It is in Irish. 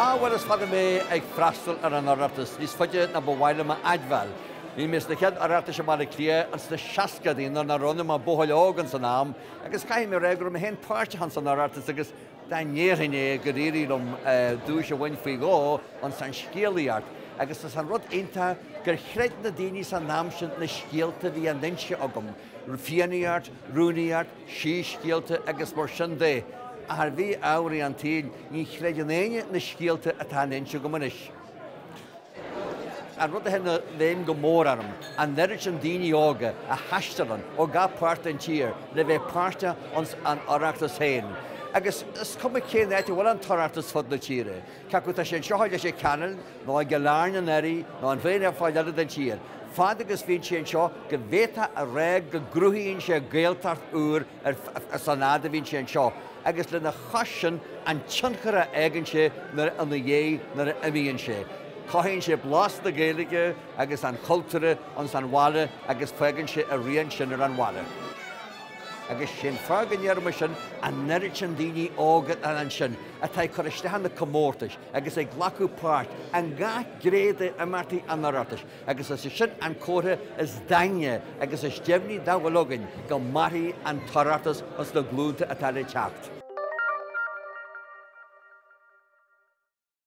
Ah bhuel is fada mé ag freastal ar an Oireachtas, níos faide ná ba mhaith liom a admháil. Bhí mé sna chéad Oireachtais i mBaile Átha Cliath ins na seascaidí nuair nach raibh ionam ach buachaill óg ins an am agus caithfidh mé a rá go raibh mé féin páirteach ins an Oireachtas agus Dá ndéarfainn é gur éirigh liom duais a bhaint faoi dhó, ins an scéalaíocht, agus is é an rud iontach gur chreid na daoine san am sin na scéalta a bhí á n-inse agam, fiannaíocht, Rúraíocht, síscéalta agus mar sin de, ach ar mhí-ámharaí an tsaoil ní chreideann éinne na scéalta atá á n-inse agam anois. An rud a théann i bhfeidhm go mór orm an oiread sin daoine óga a thaistealann ó gach páirt den tír le bheith páirteach ins An Oireachtas féin. Agus is cuma cén áit a bhfuil an tOireachtas fud na tíre, cé acu tá sé anseo i Leitir Ceanainn nó i gCill Airne anuraidh nó in aon pháirt eile den tír, fad agus bhíonn sé anseo go bhféadfá a rá go gcruthaíonn sé Gaeltacht úr ins an áit a mbíonn sé anseo agus lena chois sin an tionchar a fhágann sé nuair ina dhiaidh nuair a imíonn sé. Cothaíonn sé blas na Gaeilge agus an chultúir ins an bhaile agus fágann sé a rian sin ar an bhaile. Agus sé an fáth go ndeirim sin an oiread sin daoine óga atá ansin atá ag cur isteach ar na comórtais agus ag glacadh páirt i ngach gné d'imeachtaí an Oireachtais. agus is é sin an comhartha is daingne agus is deimhní dá bhfuil againn go mairfidh an tOireachtas ins na glúnta atá le teacht.